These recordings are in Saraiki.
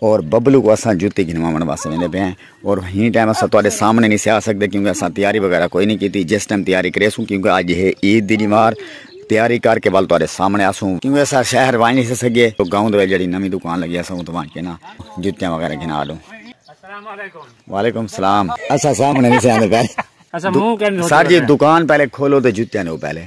اور ببلو کو اساں جوتی گھنواون واسطے ویندے پے ہیں اور ہی ٹائم اساں تواڈے سامنے نہیں سیا سکدے کیونکہ اساں تیاری وغیرہ کوئی نہیں کیتی جس ٹائم تیاری کریسوں کیونکہ اج ہے عید دی دیوار تیاری کر کے ول تواڈے سامنے اسوں کیونکہ اساں شہر وان نہیں سکے تو گاؤں دے جڑی نویں دکان لگی اساں اون تو وان کے نا جوتیاں وغیرہ گھنا لوں السلام علیکم وعلیکم السلام اساں سامنے نہیں سیا سکدے سر جی دکان پہلے کھولو تے جوتیاں نو پہلے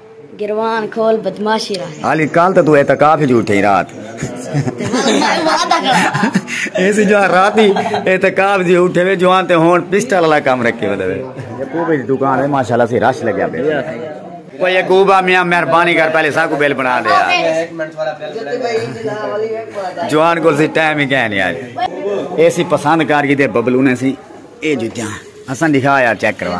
گروان کھول بدماشی را علی کال تے تو اعتکاف وچ اٹھے رات اے سی جو رات ہی اعتکاف دی اٹھے وے جوان تے ہون پسٹل والا کام رکھے ودے وے یعقوب دی دکان ہے ماشاءاللہ سی رش لگیا پے وہ یعقوب میاں مہربانی کر پہلے سا کو بل بنا دے جوان کول سی ٹائم ہی کہنی آج اے سی پسند کر کی دے ببلونے سی اے جو جان حسن دکھا یار چیک کروا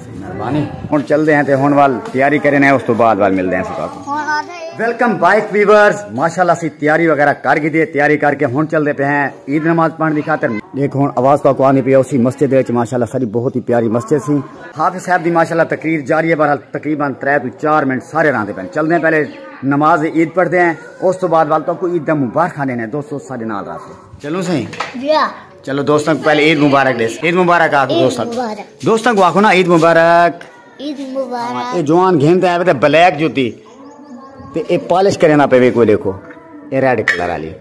ہن چلدے ہیں تے ہن وال تیاری کرنے ہیں اس تو بعد وال ملدے ہیں ستا کو ویلکم بائک ویورز ماشاءاللہ سی تیاری وغیرہ کر گی دیئے تیاری کر کے ہن چلدے پہ ہیں عید نماز پڑھن دی خاطر دیکھ ہن آواز تو کو آنی پہ اسی مسجد وچ ماشاءاللہ ساری بہت ہی پیاری مسجد سی حافظ صاحب دی ماشاءاللہ تقریر جاری ہے بہرحال تقریبا 3 تو 4 منٹ سارے راندے پہ چلدے ہیں پہلے نماز عید پڑھتے ہیں اس تو بعد وال تو کو عید دا مبارک آنے ہیں دوستو سارے نال راستے چلوں سہیں جی ہاں۔ چلو دوستوں کو پہلے عید مبارک دیس عید مبارک آکھ دوستوں دوستوں کو آکھو نا عید مبارک عید مبارک اے جوان گھن تے آوے تے بلیک جوتی تے اے پالش کرے نا پے کوئی دیکھو اے ریڈ کلر والی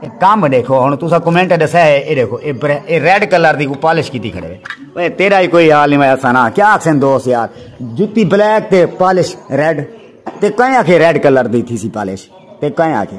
اے کام دیکھو ہن تسا کمنٹ دسا ہے اے دیکھو اے اے ریڈ کلر دی کو پالش کیتی کھڑے اے تیرا ہی کوئی حال نہیں میں سنا کیا آکھن دوست یار جوتی بلیک تے پالش ریڈ تے کہیں آکھے ریڈ کلر دی تھی سی پالش تے کہیں آکھے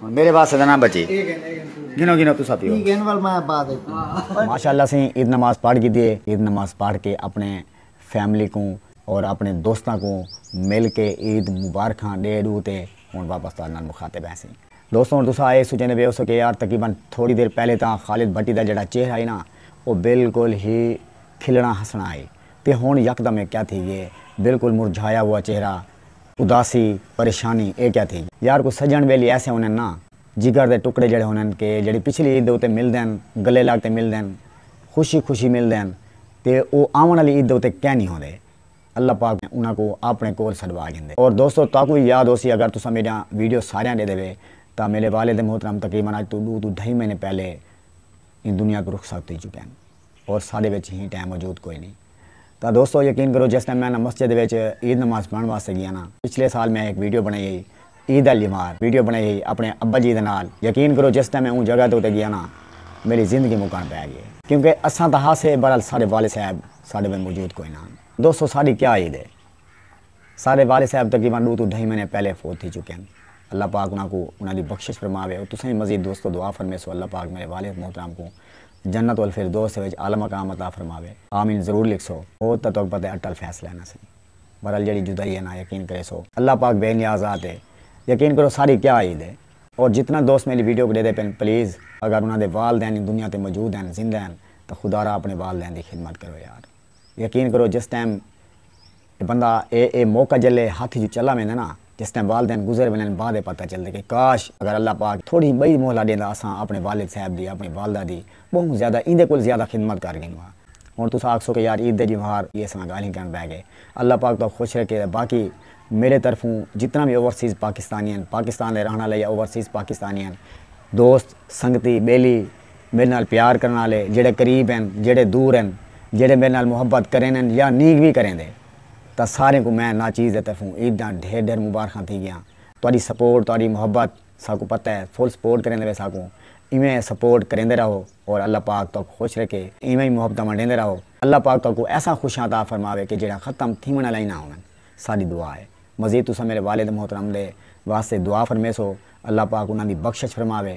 میرے واسطے نہ بچی گنو گنو تسا پیو ای گن ول میں بعد ماشاءاللہ سے عید نماز پڑھ کی دیے عید نماز پڑھ کے اپنے فیملی کو اور اپنے دوستاں کو مل کے عید مبارکاں ڈے ڈو تے ہن واپس تہاڈے نال مخاطب ہیں سے دوستو ہن تسا اے سوچیندے پے ہوسو کے یار تقریبا تھوڑی دیر پہلے تاں خالد بھٹی دا جیڑھا چہرہ ہئی نا او بالکل ہی کھلنا ہسنا ہئی تے ہن یکدم اے کیا تھی گئے بالکل مرجھایا ہوا چہرہ اداسی، پریشانی اے کیا تھی گی؟ یار کوئی سجݨ ٻیلی ایسے ہوندن نا جگر دے ٹکڑے جیڑھے ہوندن کہ جیڑھی پچھلی عید دے اتے ملدن، گلے لڳ تے ملدن، خوشی خوشی ملدن تے او آوݨ آلی عید دے اتے کینی ہوندے۔ اللہ پاک انہاں کوں آپݨے کول سݙوا گھندے۔ اور دوستو تہاکوں وی یاد ہوسی اگر تساں میݙیاں ویڈیو ساریاں ݙیدھے وے تاں میݙے والد محترم تقریبا اڄ توں ݙو توں ڈھائی مہینے پہلے ایں دنیا توں رخصت تھی چکے ہن۔ اور ساڈے وچ ہی ٹائم موجود کوئی نی تاں دوستو یقین کرو جس ٹائم میں نہ مسجد وچ عید نماز پڑھن واسطے گیا نا پچھلے سال میں ہک ویڈیو بنائی ہئی عید آلی وار ویڈیو بنائی ہئی اپنے ابا جی دے نال یقین کرو جس ٹائم میں اوں جگہ تے اتے گیا نا میڈی زندگی مکن پے گئی کیونکہ اساں تاں ہاسے بہرحال ساڈے والد صاحب ساڈے وچ موجود کوئی نہ ہن دوستو ساڈی کیا عید ہے۔ سارے والد صاحب تقریبا ڈو توں ڈھائی مہینے پہلے فوت تھی چکے ہن اللہ پاک انہاں کوں انہاں دی بخشش فرماوے اور تساں وی مزید دوستو دعا فرمیسو اللہ پاک میرے والد محترم کوں جنت الفردوس وچ اعلی مقام عطا فرماوے آمین ضرور لکھسو فوت تاں تہاکوں پتہ ہے اٹل فیصلہ ہے نا سائیں بہرحال جیڑھی جدائی ہے نا یقین کریسو اللہ پاک بے نیاز ذات ہے یقین کرو ساری کیا عید ہے اور جتنا دوست میری ویڈیو کوں ڈیدے پن پلیز اگر انہاں دے والدین دنیا تے موجود ہن زندہ ہن تاں خدا را اپنے والدین دی خدمت کرو یار۔ یقین کرو جس ٹائم اے بندہ اے اے موقع جلے ہتھ اچوں چلا ویندے نا جس ٹائم والدین گزر ویندن بعد اے پتہ چلدے کہ کاش اگر اللہ پاک تھوڑی بئی مہلہ ڈیندا اساں اپنے والد صاحب دی اپنی والدہ دی بہوں زیادہ ایندے کول زیادہ خدمت کر گھن واں ہن تساں آکھسو کہ یار عید دے جیوہار ای اساں گالھیں کرن بہ گئے اللہ پاک تہاکوں خوش رکھے تے باقی میڈے طرفوں جتنا وی اوورسیز پاکستانی ہن پاکستان دے رہن آلے یا اوورسیز پاکستانی ہن دوست سنگتی بیلی میڈے نال پیار کرݨ آلے جیڑھے قریب ہن جیڑھے دور ہن جیڑھے میڈے نال محبت کریندن یا نھیں وی کریندے تاں ساریں کوں میں ناچیز دے طرفوں عید دیاں ڈھیر ڈھیر مبارخاں تھی گیاں تہاڈی سپورٹ تہاڈی محبت ساکوں پتہ ہے فل سپورٹ کریندے پئے ساکوں ایویں سپورٹ کریندے رہو اور اللہ پاک تہاکوں خوش رکھے ایویں ای محبتاں ونڈیندے رہو اللہ پاک تہاکوں ایساں خوشیاں عطا فرماوے کہ جیڑھیاں ختم تھیوݨ آلیاں ای نہ ہوون ساڈی دعا ہے مزید تساں میڈے والد محترم دے واسطے دعا فرمیسو اللہ پاک انہاں دی بخشش فرماوے۔